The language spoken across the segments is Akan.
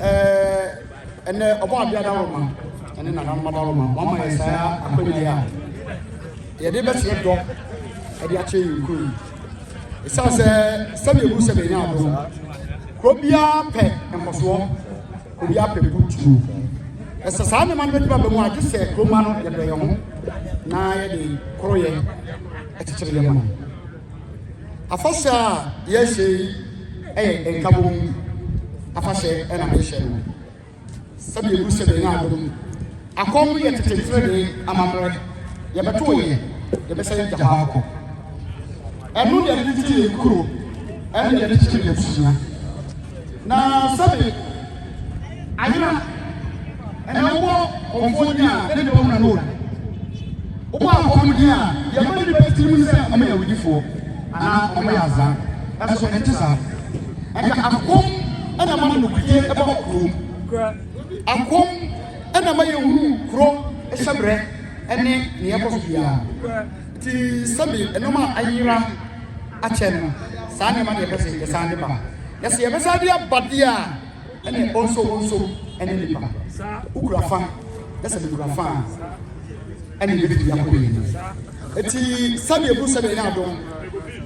Ɛɛ ɛnɛ Ɔbɔadeɛ adaworoma ne Nananom adaworoma, wɔama yɛn saa akwanya yi a yɛde bɛkyerɛ dɔ de akyerɛ yɛn kuro yi. Ɛsiane sɛ sɛdeɛ ɛhu sɛ bɛnya adom, kuro biara pɛ nkɔsoɔ, kuro biara pɛ butuo. Ɛsɛ saa nneɛma no bɛduru aba mu a, gye sɛ kuroma no yɛdɔ yɛn ho na yɛde koroyɛ kyekyere yɛn ho. Afahyɛ a yɛhyɛ yi yɛ nkabom afahyɛ na mehyɛ no sɛdeɛ ɛgu sɛ bɛnya adom. Akɔm no yɛ tete mfrɛdee amammerɛ. Yɛbɛto yɛ, yɛbɛsan agya hɔ akɔ. Ɛno deɛ yɛde tete yɛn kuro ɛne yɛde kyekyere yɛn abusua. Na sɛdeɛ. Ayera ɛnɛ wobɔ kɔmfoɔ din a na nnipa hunu ano oda. Wobɔ akɔm din a deɛ ɛma nnipa titiri mu ne sɛ wɔn yɛ awudifoɔ anaa wɔn yɛ azaa. Ɛnso ɛnte saa. Ɛnka akɔm ɛna ɛma nokorɛdie ɛba kurom. Akɔm ɛna ɛma yɛhunu korɔ hyɛbrɛ ɛne nea ɛkɔ so biara. Nti sɛbi nnoɔma a ayera. akyɛ no, saa nneɛma na yɛpɛ sɛ yɛsan de ba. Na sɛ yɛbɛsan de aba deɛ a, ɛne ɔnso ɔnso ɛne nipa. Wokura fa, na sɛ mekura fa a, ɛne yɛbɛtumi de akɔ yɛn anim. Eti sɛdeɛ bu sɛdeɛ yɛ adom.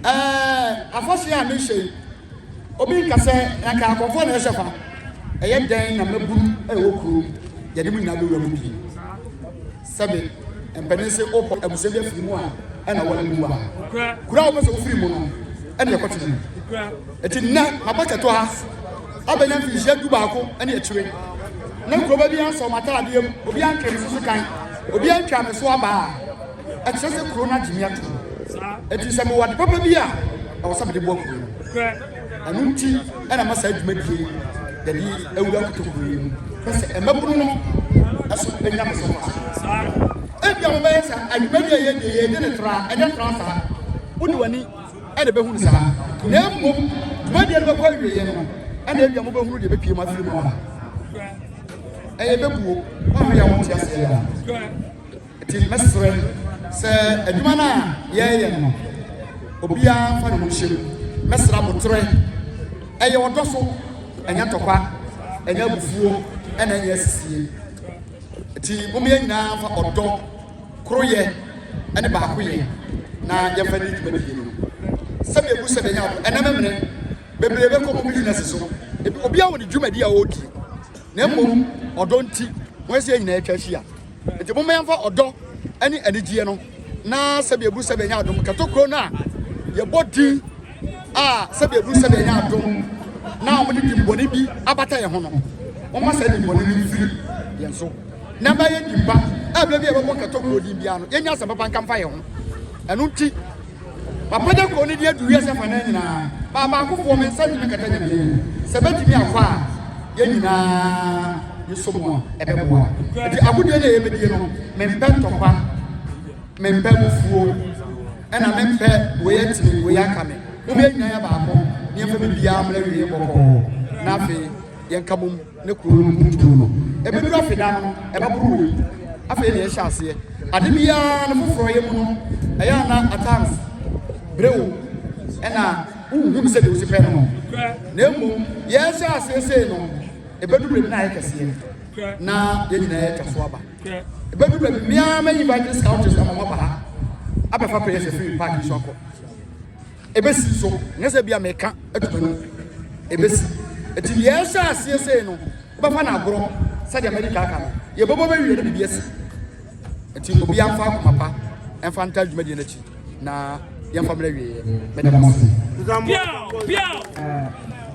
Ɛɛ afɔhyɛ a mehyɛ yi, obi nka sɛ nka akɔfoɔ na ɛhyɛ fa. Ɛyɛ dɛn na mmabunu ɛwɔ kurom, yɛde mo nyinaa bɛwura mu pii. Sɛbe mpanin se ɔbɔ abusua bi afiri mu a, ɛna ɔwɔ ne bua. Kuro a wopɛ sɛ wofiri mu no, ɛne ɛkɔtena mu. Eti nnɛ, maba kɛtɔ ha abɛnya mfinhyia du baako ne akyire. Na nkurɔba bi ansɔ m'ataadeɛ mu, obi antwe me so so kan, obi antwa me so abaa. Ɛkyerɛ sɛ kuro no agye me atom. Eti sɛ mewɔ ade papa bi a, ɛwɔ sɛ mede boa kuro no. Ɛno nti na ɛma saa dwumadie yi yɛde awura kotokuo yi mu na sɛ mmabunu no nso nya me so mfasoɔ. Ebia mobɛyɛ sɛ adwumadie a yɛyɛ deɛ yɛyɛ ne tra ɛnyɛ tra saa, wode w'ani na ɛbɛhu no saa na mmom dwumadie no bɛkɔ awieeɛ no na ebia mobɛhunu deɛ ɛbɛpue mu afiri mu aba. Ɛyɛ bɛbuo, woanhwɛ yɛ a wonte aseɛ yɛ a. Nti mɛsrɛ sɛ adwuma no a yɛreyɛ no, obiara mfa ne ho nhyɛ mu. Mɛsrɛ aboterɛ. Ɛyɛ ɔdɔ so, ɛnyɛ ntɔkwa, ɛnyɛ abufuo, ɛna ɛnyɛ asisie. Nti momma yɛn nyinaa mfa ɔdɔ, koroyɛ, ne baakoyɛ na yɛmfa nni dwumadie no. Sɛdeɛ ɛgu sɛ bɛnya ado, ɛnnɛ memene, bebree bɛkɔ wɔn bisinɛse so. Obiara wɔ ne dwumadie a ɔredie, na mmom ɔdɔ nti, wɔn sɛ yɛn nyinaa atwa ahyia. Enti momma yɛmfa ɔdɔ ne anigyeɛ no na sɛdeɛ ɛburu sɛ bɛanya adom kɛto kuro no a yɛbɔ din a sɛdeɛ ɛburu sɛ bɛanya adom na wɔde dimmɔne bi abata yɛn ho no, momma saa dimmɔne no mfiri yɛn so na ɛma yɛn din pa. Ɛberɛ bi a yɛbɛbɔ kɛto kuro din biara no, yɛnya asɛm papa nka mfa yɛn ho. Ɛno nti. Papa gya kɔɔ ne din adu wiase afanan nyinaa, maa baakofoɔ, me nsa ntumi nkata Nyame anim. Sɛ bɛtumi akɔ a, yɛn nyinaa yɛsɔ mu a, ɛbɛboa. Nti agodie no a yɛbɛdie no, mempɛ ntɔkwa, mempɛ abufuo, ɛna mempɛ wei ate me, wei aka me. Mom yɛn nyinaa yɛ baako, ne yɛmfa biribiara mmra awieɛ bɔkɔɔ, na afei yɛnka bom. ne kuro no mpuntuo no, ɛbɛduru afeda no, ɛbɛboro wei. Afei deɛ ɛhyɛ aseɛ, ade biara no foforɔyɛ mu no, ɛyɛ a na at times bere wo ɛna wonhunu sɛ deɛ wosi pɛ no na mmom yɛhyɛ aseɛ sei no, ɛbɛduru baabi na ayɛ kɛseɛ na yɛn nyinaa yɛatwa so aba. Ɛbɛduru baabi mmea mɛyi evangelist countries na mama ba ha abɛfa prayers afiri park so akɔ. Ebesi so, nyɛ sɛ ebia meka ato m'anom. Ebesi. Enti nea ɛhyɛɛ aseɛ sei no, wobɛfa no agorɔ sɛdeɛ madi ka aka no. Yɛbɛbɔ bɛwie na biribi asi. Enti obiara mfa akoma pa mfa ntaa dwumadie no akyi na yɛmfa mmrɛ awieeɛ. Meda mo ase. Biaw! Biaw!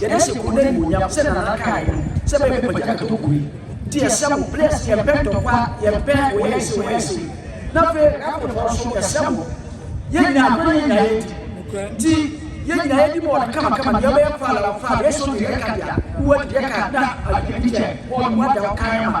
Yɛda hyɛ kurow no animuonyam sɛ Nana kae no sɛ bɛyɛ bɛ pagya ɛtɔ kurow yi nti yɛsrɛ mo please yɛn pɛ ntɔkwa yɛn pɛ wɔyɛ yɛn sei wɔyɛ yɛn sei na afei airport hɔ nso yɛsrɛ mo yɛn nyinaa agorɔ ne yɛn nyinaa yɛdi nti yɛn nyinaa yɛdi bɔɔl kama kama deɛ ɔbɛyɛ faala wɔ faala yɛ so deɛ yɛ ka deɛ wowɔ deɛ yɛ ka na ayɛ bi kyɛ bɔɔl mu ada wo kan ama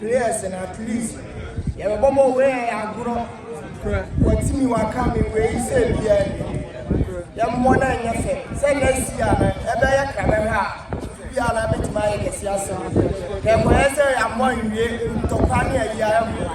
players and at least yɛbɛbɔ bɔ wei yɛ agorɔ wɔtumi waka me wei sɛ biaa yɛmmɔ no anyɛ fɛ sɛ na si a no ɛbɛyɛ krabɛhwɛ a biaa na bɛtumi ayɛ kɛse asɛm na ɛkɔyɛ sɛ yɛammɔ nwie ntɔkwa ne ayia ɛmmoa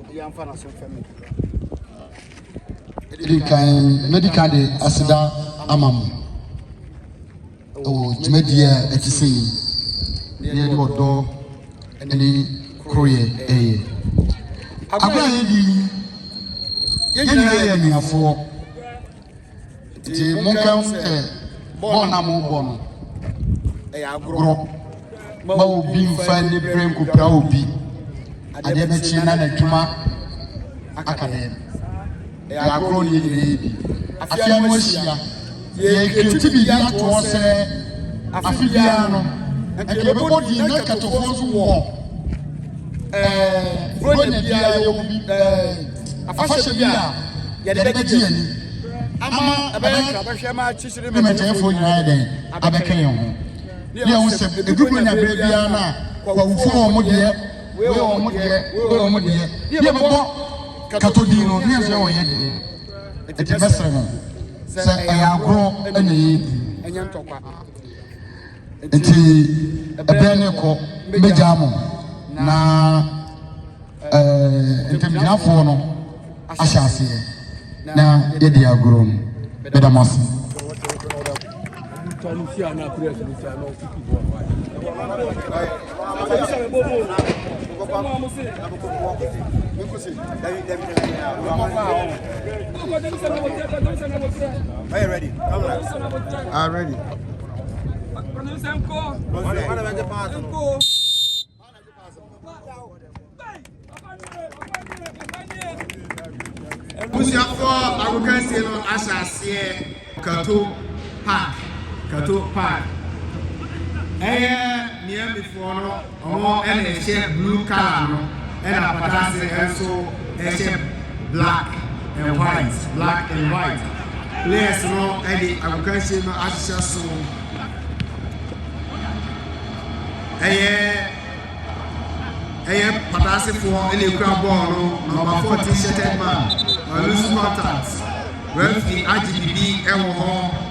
obiara mfa n'aso mfa mu kakra. Ɛdi kan, mɛdi kan de aseda ama mo ɛwɔ dwumadie a ɛte sɛ yi na yɛde ɔdɔ ne koroyɛ ɛyɛ. Abere a yɛdi yi, yɛn nyinaa yɛ anuafoɔ. Ntsi monkahu dɛ bɔɔl no a morobɔ no yɛ agorɔ. Mma obi mmfa aniberɛ nnkɔpira obi. Adeɛ bɛkye na n'adwuma aka dɛn? Ɛyɛ agorɔ na yɛn nyinaa yɛ bi. Afe ano ahyia, yɛrekɛti biribi ato hɔ sɛ afe biara no, anka yɛbɛbɔ din na anka Tofua nso wɔ ɛɛ Buronya bi a yɛwɔ bi ɛɛ. afahyɛ bi a yɛde bɛgye yɛn ani ama ɛbɛyɛ nkrabɛhwɛ ma akyikyiri ne mɛtɛɛfoɔ nyinaa yɛ dɛn abɛka yɛn ho ne yɛn ho sɛ ɛdu mu nya berɛ biara no a kwawufoɔ wɔ mo deɛ wei wɔ mo deɛ wei wɔ mo deɛ ne yɛbɛbɔ katɔ din no ne yɛn sɛ wɔyɛ deɛ ɛti mɛsrɛ mo sɛ ɛyɛ agorɔ ɛna ɛyɛ ɛnyɛ ntɔkwa nti ɛbɛn ne kɔ mbɛgyaa mo na ɛɛ eh, ntamgyinafoɔ no ahyɛ aseɛ na yɛde agorɔ mu bɛda mo ase Are you ready? Abusuafoɔ agokansie no ahyɛ aseɛ Kato Park Kato Park ɛyɛ Miamifoɔ no Ɔmo na ɛhyɛ blue colour no ɛna apata ase nso ɛhyɛ black and white black and white players no ɛde agokansie no ahyehyɛ so ɛyɛ ɛyɛ pata ase foɔ ɛna ekura bɔɔl no number four ti shirted man ɔlusu contact referee agye bibi ɛwɔ hɔ.